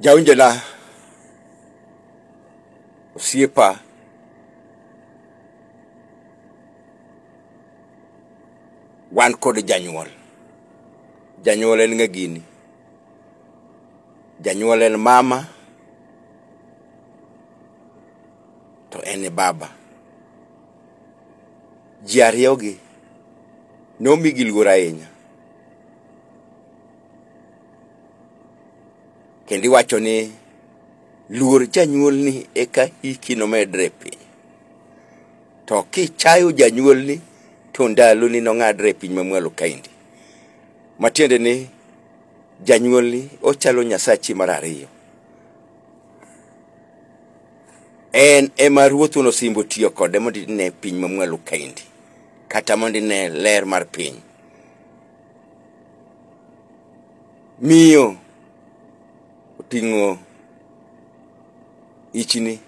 Jawinjona osiepa wan kod janyuol janyuol en ng'a gini janyuol en mama to en e baba ji ariyogi nomigi luor ahinya kendo iwacho ni luor janyuolni eka hiki nomedre piny to kichayo janyuolni to ndaloni nong'adre e piny mamwalo kaendi matiende ni janyuolni ochalo nyasachi mar ariyo en ema ruoth wuon osimbo tiyo kode mondo ine piny mamwalo kaendi kata mondo ine ler mar piny miyo oting'o ichni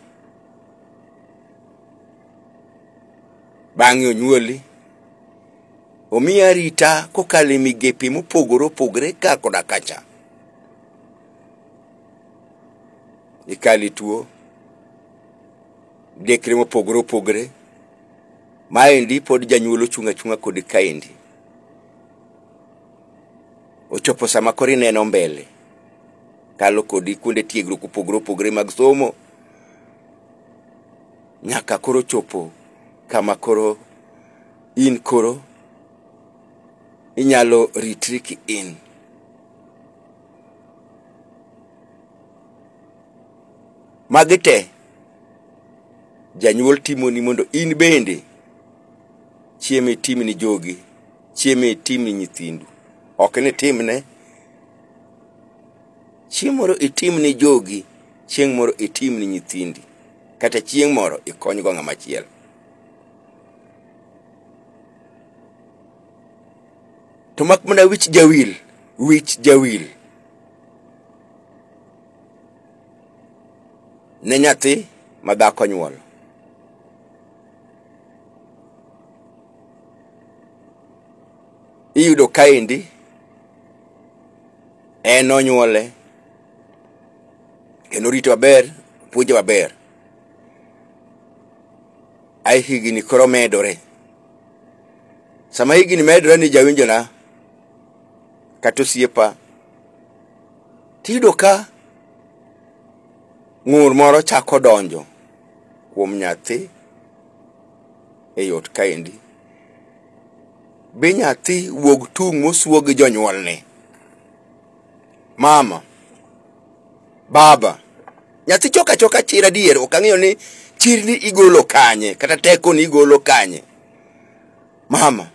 bang'e onyuoli omiyi arita kokalo e migepe mopogore opogore ka koda kacha ikale tuo dekre mopogore opogore maendi pod janyuol ochung' achung'a kodi kaendi ochopo sama koro ineno mbele kalo kodi kuonde tiegruok opogore opogore mag somo nyaka koro chopo kama koro in koro inyalo ritri ki in magi te janyuol timoni mondo in bende chieme tim ni jogi chieme tim ni nyithindu ok ni timne chieng' moro itim ni jogi chieng' moro itim ni nyithindi kata chieng' moro ikonygo ng'ama chielo to mak mana wich jawil wich jawil ne nyathi ma dhako nyuolo iyudo kaendi en onyuole kendo orite maber puonje maber ae higni koro medore sama higni medore ni jawinjona kata osiepa tiyudo ka ng'ur moro chako donjo kuom nyathi e yot kaendi. Be nyathi wuog tung' mosuo gi jonyuolne? Mama, baba, nyathi choka choka chir adier, ok ang'eyo ni chirni igolo kanye kata tekoni igolo kanye. Mama,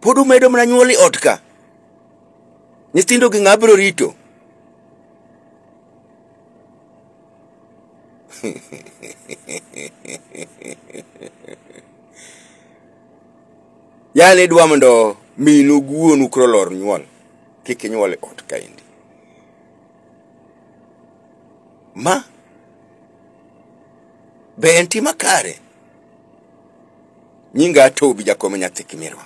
pod umedo mana nyuol e ot ka? Nyithindogi ng'a biro rito? Yaani idwa mondo minu gi wuonu koro lor nyuol kik inyuol e ot kaendi. Ma be en tim makare? Nyinga Tobi jakom nyathi Kimirwa.